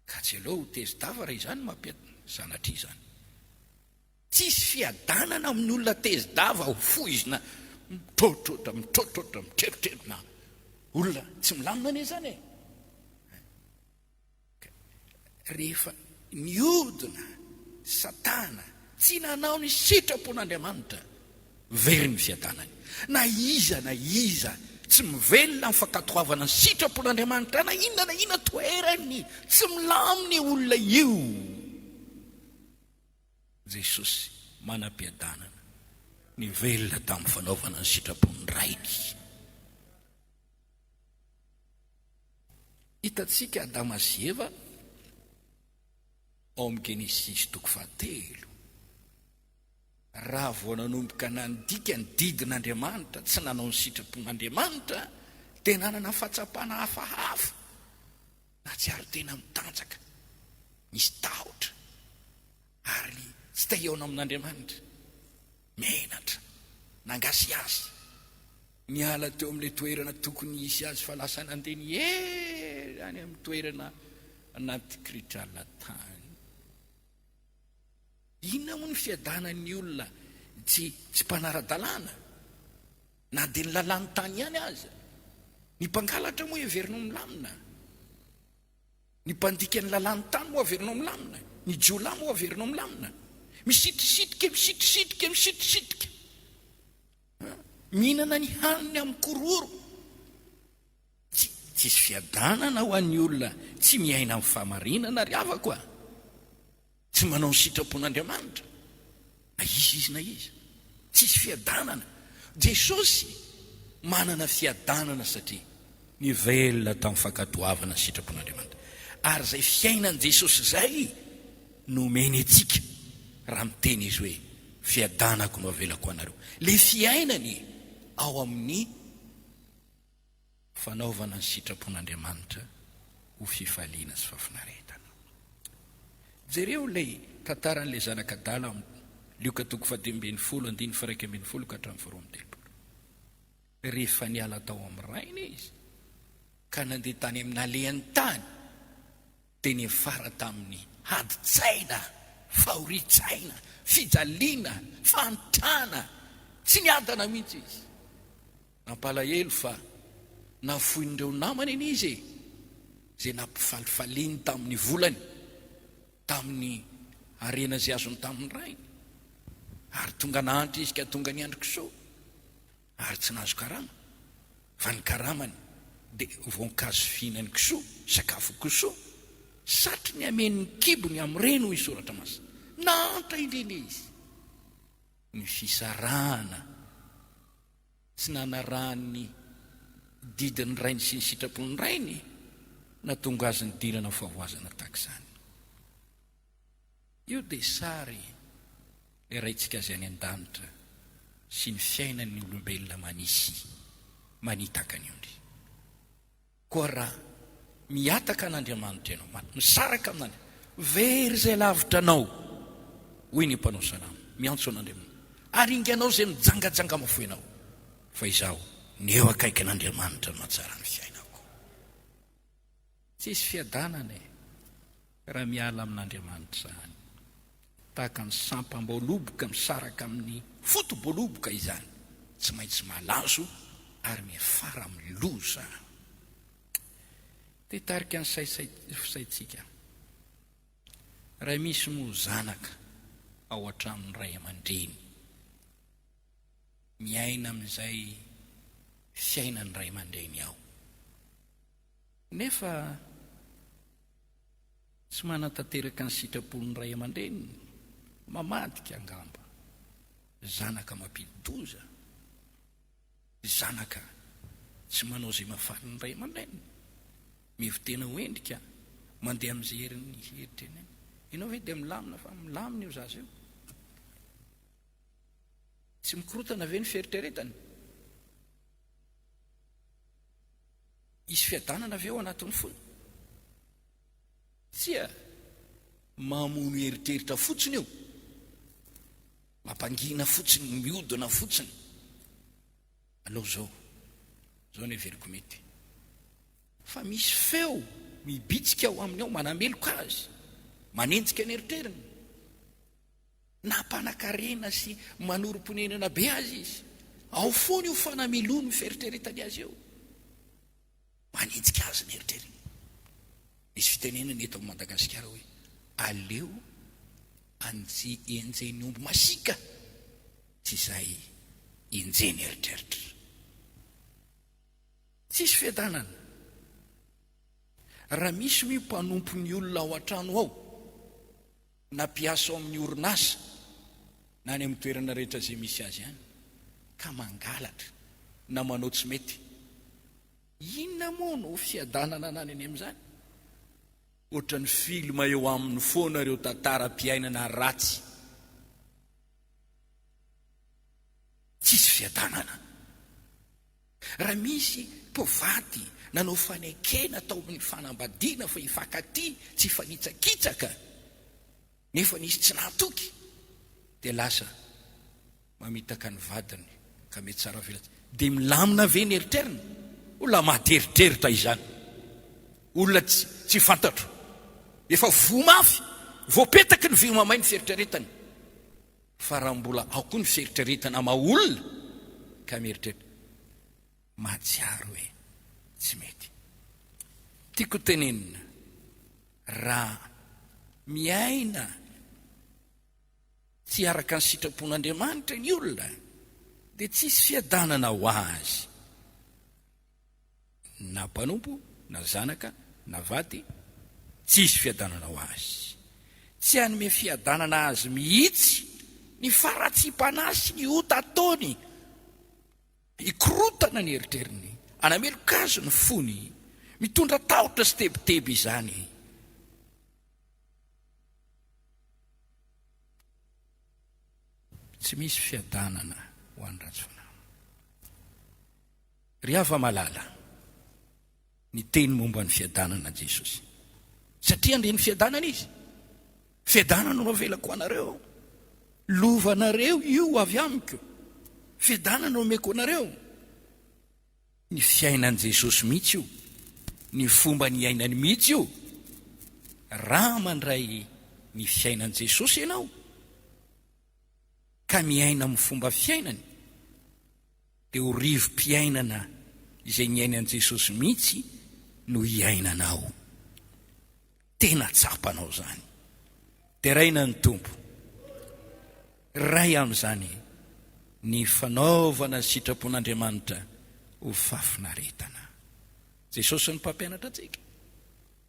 Ka tsy aleo ho tezi-dava raha izany mampiad sanatria izany. Tsisy fiadanana amin'ny olona tezi-dava ho foizina mitrotrotra, mitrotrotra, mitreritrerina. Olona tsy milamina anie izany e. Ka rehefa niodina Satana tsy nanao ny sitrapon'Andriamanitra Very ny fiadanany. Na iza na iza tsy mivelona amin'ny fankatoavana ny sitrapon'Andriamanitra na inona na inona toerany, tsy milamina io olona io. Jesosy, manam-piadanana, nivelona tamin'ny fanaovana ny sitrapon'ny Rainy. Hitantsika Adama sy Eva ao amin'ny Genesisy toko fahatelo. Raha vao nanomboka nandika ny didin'Andriamanitra tsy nanao ny sitrapon'Andriamanitra dia nanana fahatsapana hafahafa. Nahatsiaro tena mitanjaka, nisy tahotra, ary tsy te hihaona amin'Andriamanitra. Menatra, nangasiasy, niala teo amin'ilay toerana tokony hisy azy fa lasa nandeha ny ela any amin'ny toerana anaty kritrala tany. Inona moa ny fiadanan'ny olona tsy tsy mpanara-dalàna, na dia ny lalàn'ny tany ihany aza? Ny mpangalatra moa heverinao milamina? Ny mpandika ny lalàn'ny tany moa averinao milamina? Ny jiolahy moa averinao milamina? Misitrisitrika, misitrisitrika, misitrisitrika. Mihinana ny haniny amin'ny kororo. Tsy hisy fiadanana ho an'ny olona tsy miaina amin'ny fahamarinana ry havako a! Tsy manao ny sitrapon'Andriamanitra na iza izy na iza. Tsy hisy fiadanana. Jesosy manana fiadanana satria. Nivelona tamin'ny fankatoavana ny sitrapon'Andriamanitra. Ary izay fiainan'i Jesosy izay no omeny antsika raha miteny izy hoe, Fiadanako no avelako ho anareo. Ilay fiainany ao amin'ny. Fanaovana ny sitrapon'Andriamanitra ho fifaliana sy fahafinaretana. Jereo ilay tantaran'ilay zanak'adala ao amin'ny Lioka toko faha dimy ambin'ny folo andininy faha iraika ambin'ny folo ka hatramin'ny faha roa amby telopolo. Rehefa niala tao amin'ny rainy izy ka nandeha tany amin'ny nalehan'ny tany, Dia niafara tamin'ny adin-tsaina, fahorian-tsaina, fijaliana, fahantrana. Tsy niadana mihitsy izy. Nampalahelo fa nafoin'ireo namany anie izy e, izay nampifalifaliany tamin'ny volany, tamin'ny harena izay azony tamin'ny rainy. Ary tonga nahantra izy ka tonga niandry kisoa. Ary tsy nahazo karama, fa ny karamany dia voankazo fihinan'ny kisoa, sakafon'ny kisoa, satry ny hameno ny kibony amin'ireny, hoy ny Soratra Masina. Nahantra indrindra izy. Ny fisarahana tsy nanarahany ny didin'ny rainy sy ny sitrapon'ny rainy, nahatonga azy nidirana amin'ny fahavoazana tahaka izany. Io dia sary ilay Raintsika Azy any an-danitra sy ny fiainan'ny olombelona manisy manitaka ny ondry. Koa raha mihataka an'Andriamanitra ianao, ma, misaraka amin'Andr. Very izay lavitra anao, hoy ny mpanao salamo, miantso an'Andriamanitra, ary inganao izay mijangajanga mafoinao, fa izaho ny eo akaikin'Andriamanitra no mahatsara ny fiainako. Tsisy fiadanana e! Raha miala amin'Andriamanitra izany, tahaka ny sampam-boaloboka misaraka amin'ny foto-boaloboka izany, tsy maintsy malazo ary miafara amin'ny loza. Te hitarika ny saintsika. Raha misy moa zanaka ao an-tranon'ny ray aman-dreny. miaina amin'izay fiainan'ny ray aman-dreny ao nefa tsy manatanteraka ny sitrapon'ny ray aman-dreniny, mamadika angamba, zanaka mampidi-doza, zanaka tsy manao izay mahafalin'ny ray aman-dreniny, mivo-tena ho endrika, mandeha amin'izay herin'ny heritreriny, ianao ve dia milamina fa milamina io zaza io? Tsy mikorotana ve ny fieritreretany? Hisy fiadanana ve ao anatin'ny fony? Tsia, mamono eritreritra fotsiny io, mampangina fotsiny, mihodina fotsiny. Aleo izao, izao no heveriko mety. Fa misy feo mibitsika ao aminy ao, manameloka azy, manenjika ny eritreriny. Nampanan-karena sy manorim-ponenana be azy izy. Ao foana io fanamelohany ny fieritreretany azy io. Manenjika azy ny eritreriny. Misy fitenenana eto amin'i Madagasikara hoe aleo anji enjehiny omby masiaka tsy izay enjehiny eritreritra. Tsisy fiadanana. Raha misy hoy mpanompo ny olona ao an-trano ao na mpiasa ao amin'ny orinasa na any amin'ny toerana rehetra izay misy azy any ka mangalatra na manao tsy mety, inona moa no fiadanana anany any amin'izany? Ohatran'ny film eo aminy foana ireo tantaram-piainana ratsy tsisy fiadanana. Raha misy mpivady nanao fanekena tao amin'ny fanambadiana fa hifankatia tsy hifanitsakitsaka nefa nisy tsy nahatoky dia lasa mamitaka ny vadiny ka mety tsara velatsihy dia milamina ve ny eritreriny? Olona maty eritreritra izany, olona tsy fantatro, efa voa mafy, voapetaky ny vy mamay ny fieritreretany, Fa raha mbola ao koa ny fieritreretana maha olona ka mieritreritra mahatsiaro hoe tsy mety. Tiako tenenina, raha miaina tsy araka ny sitrapon'Andriamanitra ny olona dia tsy hisy fiadanana ho azy. na mpanompo, na zanaka, na vady, tsy hisy fiadanana ho azy. Tsy hanome fiadanana azy mihitsy ny faharatsiam-panahy sy ny ota ataony, hikorotana ny eritreriny, hanameloka azy ny fony, mitondra tahotra sy tebiteby izany. Tsy misy fiadanana ho an'ny ratsy fanahy. Ry hava-malala, niteny momba ny fiadanana Jesosy, satria handre ny fiadanana Izy. Fiadanana no avelako ho anareo, lovanareo io avy amiko. Fiadanana no omeko anareo. Ny fiainan'i Jesosy mihitsy io, ny fomba niainany mihitsy io. Raha mandray ny fiainan'i Jesosy ianao, ka miaina amin'ny fomba fiainany, dia ho rivo-piainana izay niainan'i Jesosy mihitsy no hiainanao. Tena tsapanao izany? Deraina ny Tompo. Ray amin'izany ny fanaovana sitrapon'Andriamanitra ho fahafinaretana. Jesosy no mpampianatra antsika,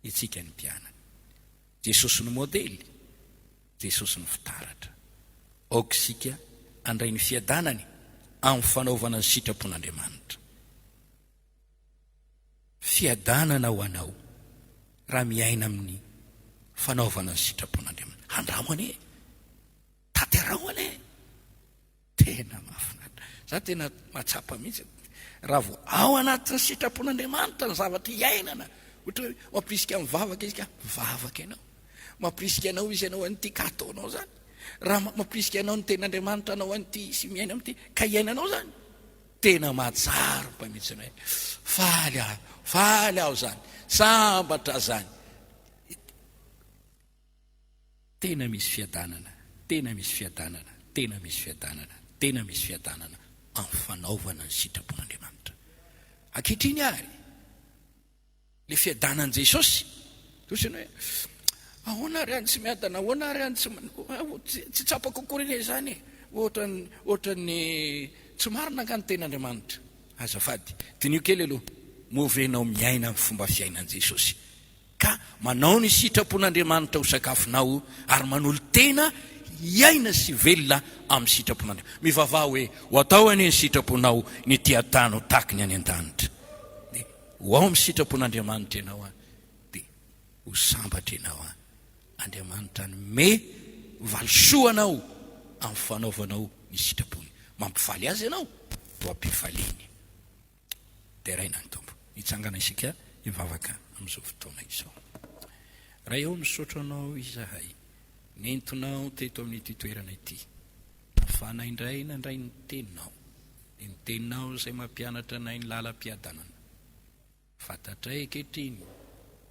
itsika ny mpianany. Jesosy no modely, Jesosy ny fitaratra. Aoka isika handray ny fiadanany amin'ny fanaovana ny sitrapon'Andriamanitra. Fiadanana ho anao raha miaina amin'ny fanaovana ny sitrapon'Andriamanitra. Handramo anie! Tanterao anie! Tena mahafinaritra. Za tena mahatsapa mihitsy raha vao ao anatin'ny sitrapon'Andriamanitra ny zavatra iainana. Ohatra hoe mampirisika mivavaka izy ka mivavaka ianao. Mampirisika anao izy hanao an'ity ka ataonao zany. Raha mampirisika anao ny tenin'Andriamanitra hanao an'ity sy miaina amin'ity ka iainanao zany. Tena mahatsiaro koa mihitsy hoe faly aho, faly aho zany, sambatra zany. Tena misy fiadanana, tena misy fiadanana, tena misy fiadanana, tena misy fiadanana amin'ny fanaovana ny sitrapon'Andriamanitra. Ankehitriny ary, ilay fiadanan'i Jesosy, toa ohatran'ny hoe, ahoana ary any tsy miadana, ahoana ary any tsy, tsy tsapako akory anie izany e, ohatran'ny, ohatran'ny tsy marina angaha ny tenin'Andriamanitra? Azafady, diniho kely aloha, moa ve ianao miaina ny fomba fiainan'i Jesosy? Ka manao ny sitrapon'Andriamanitra ho sakafonao ary manolo-tena hiaina sy velona amin'ny sitrapon'Andriamanitra. Mivavaha hoe, Ho atao anie ny sitraponao, ny ety an-tany ho tahaky ny any an-danitra. Dia ho ao amin'ny sitrapon'Andriamanitra ianao an! Dia ho sambatra ianao an! Andriamanitra hanome valisoa anao amin'ny fanaovanao ny sitrapony. Mampifaly Azy ianao, ho am-pifaliany. Deraina ny Tompo. Hitsangana isika hivavaka amin'izao fotoana izao. Ray ô, misaotra Anao izahay nentinao teto amin'ity toerana ity. Nafana indray nandray ny Teninao, dia ny Teninao izay mampianatra anay ny lalam-piadanana. Fantatray ankehitriny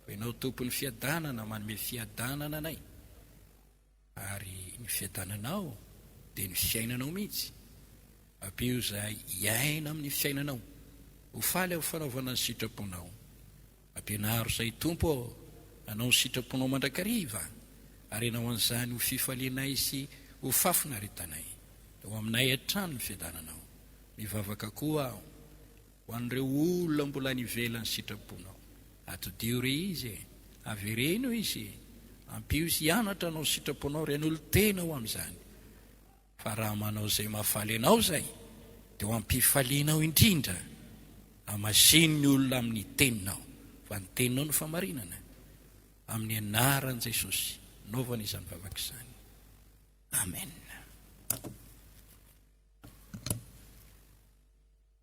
fa Ianao Tompon'ny fiadanana, manome fiadanana anay. Ary ny fiadananao dia ny fiainanao mihitsy. Ampio izay hiaina amin'ny fiainanao ho faly amin'ny fanaovana ny sitraponao. Ampianaro izay, Tompo ô, hanao ny sitraponao mandrakariva, ary hanao an'izany ho fifalianay sy ho fahafinaretanay. Ho aminay hatrany ny fiadananao. Mivavaka koa aho. Ho an'ireo olona mbola any ivelan'ny sitraponao, atodiho re izy e! Avereno izy e! Ampio izy hianatra anao sitraponao, renolo tena ho amin'izany. Fa raha manao izay mahafaly anao izay, dia ho am-pifalianao indrindra. Amasino ny olona amin'ny teninao, fa ny teninao no famarinana. Amin'ny anaran'i Jesosy, naovana izany vavaka izany. Amen.